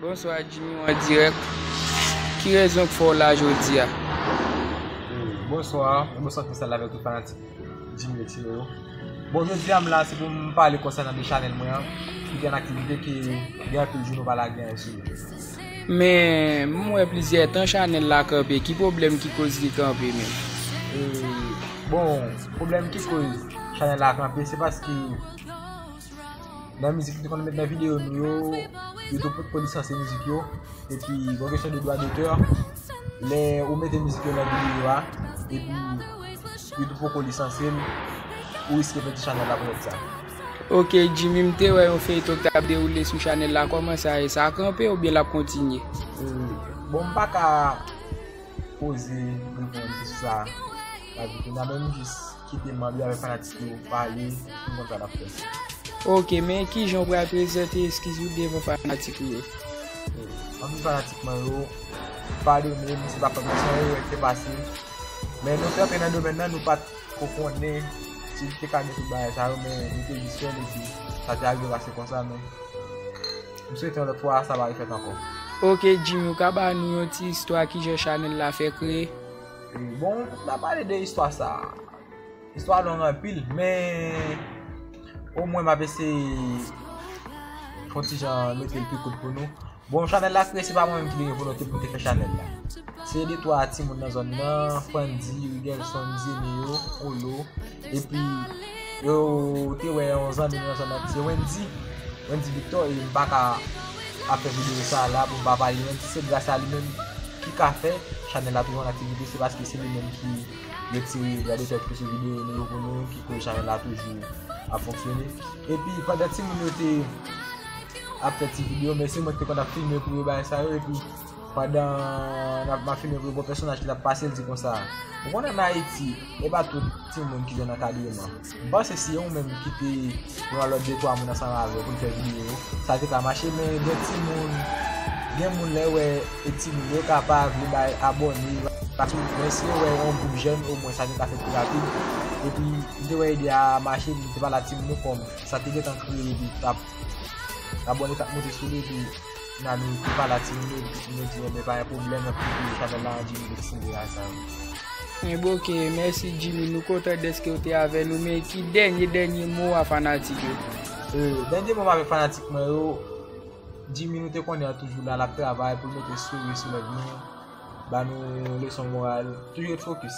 Bonswa Jimmy ou an dirèk, ki rezon k fè w la jodi a? Bonswa, yon bonswa spesyal avèk tout fanatik Jimmy X yo. Bon jodi a m la se pou m pale konsènan de chanèl mwen an ki gen aktivite ki gen anpil jou nou pa lage anyen sou li. Men m wè plizyè tan chanèl la kanpe ki pwoblèm ki koz li kanpe menm? Bon pwoblèm ki koz chanèl la kanpe se paske nan mizik nou te konn met nan videyo nou yo youtube potko lisanse mizik yo epi bon kesyon de dwa dotè lè ou mete mizik yo nan videyo a epi youtube potko lisanse l ou riske pèdi chanèl la pou sa. Ok Jimmy m te wè yon feyton ki tap dewoule sou chanèl la kòman sa ye sa kanpe oubyen lap kontinye? Bon m paka poze reponn sou sa la di kounya men m jis kite manb yo avèk fanatik yo pale pou m konn sa nap fè. Ok men kijan ou pral prezante eskiz ou devan fanatik ou yo? Anpil fanatik mwen yo padone m si m ta fè nou san erè ki te pase men nou kanpe nan domèn nan nou pat Ou konnen si li te ka gen tout bagay sa yo men li te jis fèl epi sa te arive pase konsa men m swete yon lòt fwa sa pa refèt ankò. Ok Jimmy ou ka ba nou yon ti istwa kijan chanèl la fè kreye? Bon m ta pale de istwa sa a, istwa a long anpil men omwen m ap eseye fon ti jan mete l pi kout pou nou. Bon chanèl la kreye se pa mwen menm ki te gen volonte pou m te fè chanèl la se de twa timoun nan zòn nan Fandi, Rigelson, Zeneo, Olo epi yo te wè yon zanmi nou nan zòn nan ki se Wendy Wendy Victor e m pa ka ap fè videyo sa la pou m pa pale de Wendy se gras a li menm ki ka fè chanèl la toujou an aktivite se paske se li menm ki retire vwa de tèt pou sou videyo nou yo pou nou ki koz chanèl la toujou ap fonksyone epi pandan timoun yo te ap fè ti video men se mwen ki te konn ap filme pou yo bagay sa yo epi pandan nap ma filme pou yo gwo pèsonaj ki tap pase l di konsa ou konnen an Ayiti e pa tout timoun ki jwenn ankadreman m panse si ou menm ki te yon alòt de twa moun ansanm avè w pou n fè video sa te ka mache men gen timoun gen moun lè wè e timoun yo ka pa vle bay abòne yo pa sou men si yo wè yon gwoup jèn o mwen sa te ka fèt pi rapid epi m te wè ide a mache m te pale ak timoun yo kòm. Sa te gentan kreye epi tap Abone tap moute sou li epi Nanu te pale ak timoun yo epi timoun yo di enben pa gen pwoblèm nan ti kou chanèl la an Jimmy te siyen bagay sa yo. Enben ok mèsi Jimmy nou kontan dèske ou te avè nou men ki dènye dènye mo a fanatik yo. Dènye mo m avèk fanatik mwen yo Jimmy nou te konnen an toujou la lap travay pou l mete souri sou lèv nou ba nou leson moral toujou ret fokis.